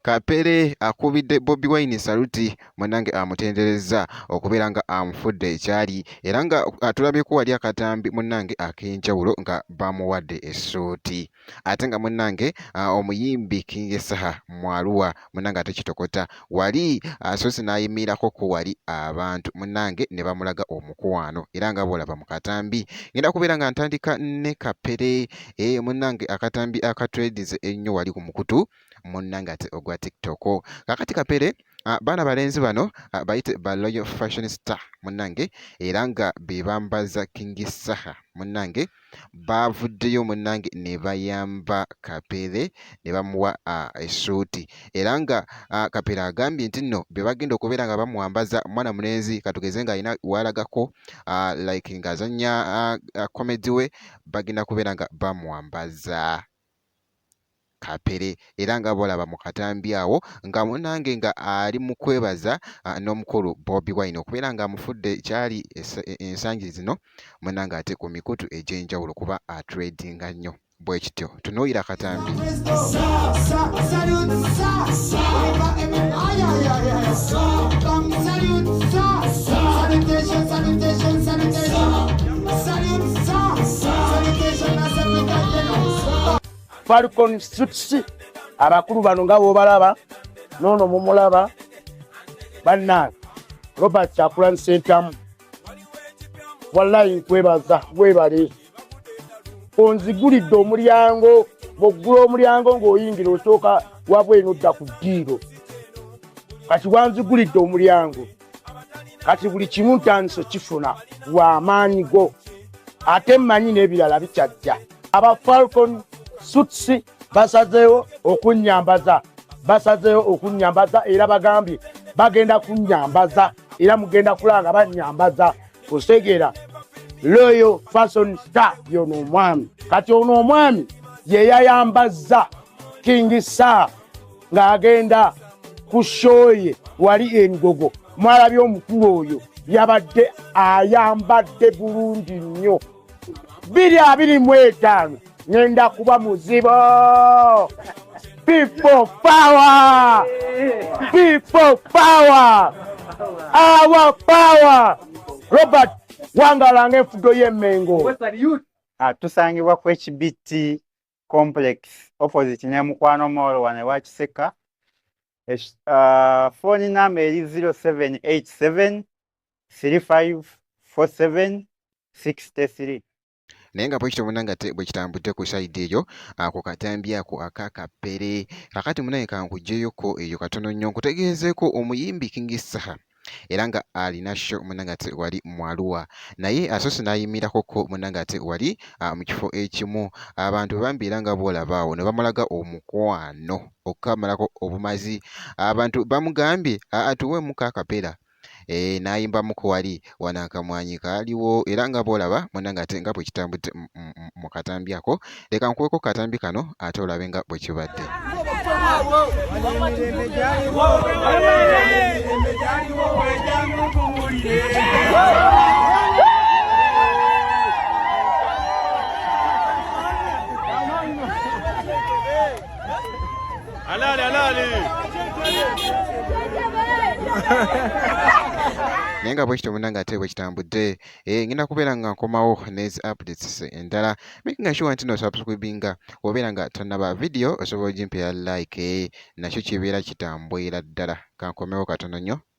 Kapere akubidde Bobi Wine saluti munange amutenderezza okubeera nga amufudde ekyali era nga atulabyeko wali akatambi munange ak'enjawulo nga bamuwadde essuuti. ate nga munange ah, omuyimbi King Saha mwaluwa munange ate kitokota wali asoose ah, n'ayimiirako ku wali abantu munange ne bamulaga omukwano era nga bw'olaba mu katambi ngenda kubeera nga ntandika ne kapere eh, munange akatambi akatwedize ennyo wali ku mukutu munange ate ogwa tiktok kakati kapere Ah, baana balenzi bano ah, bayite ba loyal fashion star munange era nga bebambaza king saha munange baavuddeyo munnange ne bayamba Kapere ne bamuwa essuuti era nga Kapere agambye nti nno bye bagenda okubeera nga bamwambaza mwana mulenzi katugeze ng'alina waalagako like ng'azannya komedi we bagenda kubeera nga bamwambaza. Kapere era nga bolaba mu katambi awo nga munange nga ali mu kwebaza n'omukulu Bobi Wine okubeera nga amufudde kyali e, ensangi zino munange ate ku mikutu egy'enjawulo kuba atredinga nnyo bwe kityo tunuulira katambi Falcon Streets abakulu bano nga bwobalaba nono mumulaba bannange robert kyakulani sentamu wallayi nkwebaza webale onzigulidde omulyango bwoggula omulyango ng'oyingira osooka wabweno odda ku ddiiro kati wanzigulidde omulyango kati buli kimu ntandise kifuna wamaanyi go ate mmanyi n'ebirala bikyajja aba falcon suits basazeewo okunyambaza basazeewo okunyambaza era bagambye bagenda kunyambaza era mugenda kulanga banyambaza kusegeera loyo fason star yono omwami kati ono omwami yeyayambazza king star ng'agenda ku shoye wali engogo mwalabye omukulu oyo yabadde ayambadde bulungi nnyo biri abiri mu etaano ngenda kuba muzibo people power people power our power robert wangalanga enfudo y'emengo ah, tusangibwa ku ekibitti complex opposite ne mukwano mall wano ewa kiseka fooni uh, namba eri 0787 3547 63 naye nga bwekityo muna nga bwekitambudde ku saidi eyo ah, ku katambi ako aka kapere kakati munaye kankuggyeyoko eyo katono nnyo nkutegeezeeko omuyimbi king saha era nga alina sho munange ate wali mwaluwa naye asoose n'ayimirakoko munange ate wali ah, mu kifo ekimu abantu bambi era nga bwolabaawo ne bamulaga omukwano okukamalako obumazi abantu bamugambye atuweemuko akapera eh, n'ayimbamuko wali wano akamwanyi kaaliwo era nga bwolaba munange ate nga bwe kitambudde mu katambi ako leka nkuweko katambi kano ate olabe nga bwe kibadde Alali, alali. naye nga bwekityo munange ate bwekitambudde eh ngenda kubeera nga nkomawo nezi updates endala making sure nti no subscribinga obeera nga tonaba video osobola ogimpera like eh, nakyo kibeera kitambwera ddala kankomewo katono nnyo